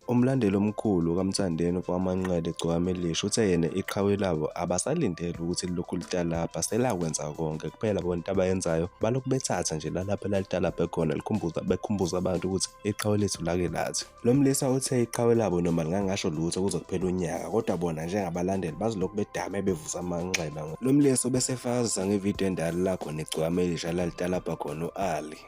Umlandeli omkhulu kaMthandeni kwaManqele Gcokama Elisha uthe yena iqhawe labo abasalindele ukuthi lilokhu litalabha selakwenza konke kuphela bona into abayenzayo balokhu bethatha nje lalapho elalitalabhe khona likhumbuza bekhumbuza abantu ukuthi iqhawe lethu lake lathi. Lo mlisa uthe iqhawe labo noma lingangasho lutho kuze kuphela unyaka kodwa bona njengabalandeli bazilokhu bedame bevusa amanxeba. Lo mlisa ubesefakazisa ngevidiyo endala la khona iGcokama Elisha lalitalabha khona u-Ali.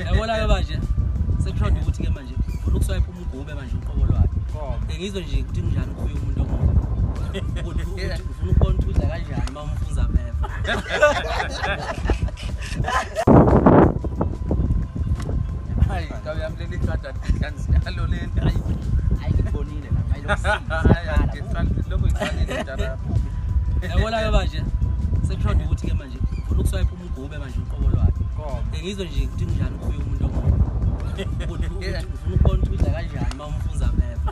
yabona-ke manje sekushonda ukuthi-ke manje funa ukuswayipha umgube manje uqobo lwakhe engizwe nje ukuthi kunjani ukufuya umuntu omuntu ufuna ukubona ukuthi udla kanjani uma umfunza phepha yabona-ke manje sekuhlonda ukuthi-ke manje funa ukuswayipha umgube manje uqobo lwakhe ngizwe nje ukuthi kunjani ukubuya umuntu omuntu ufuna ukubona ukuthi udla kanjani uma umfunza phepha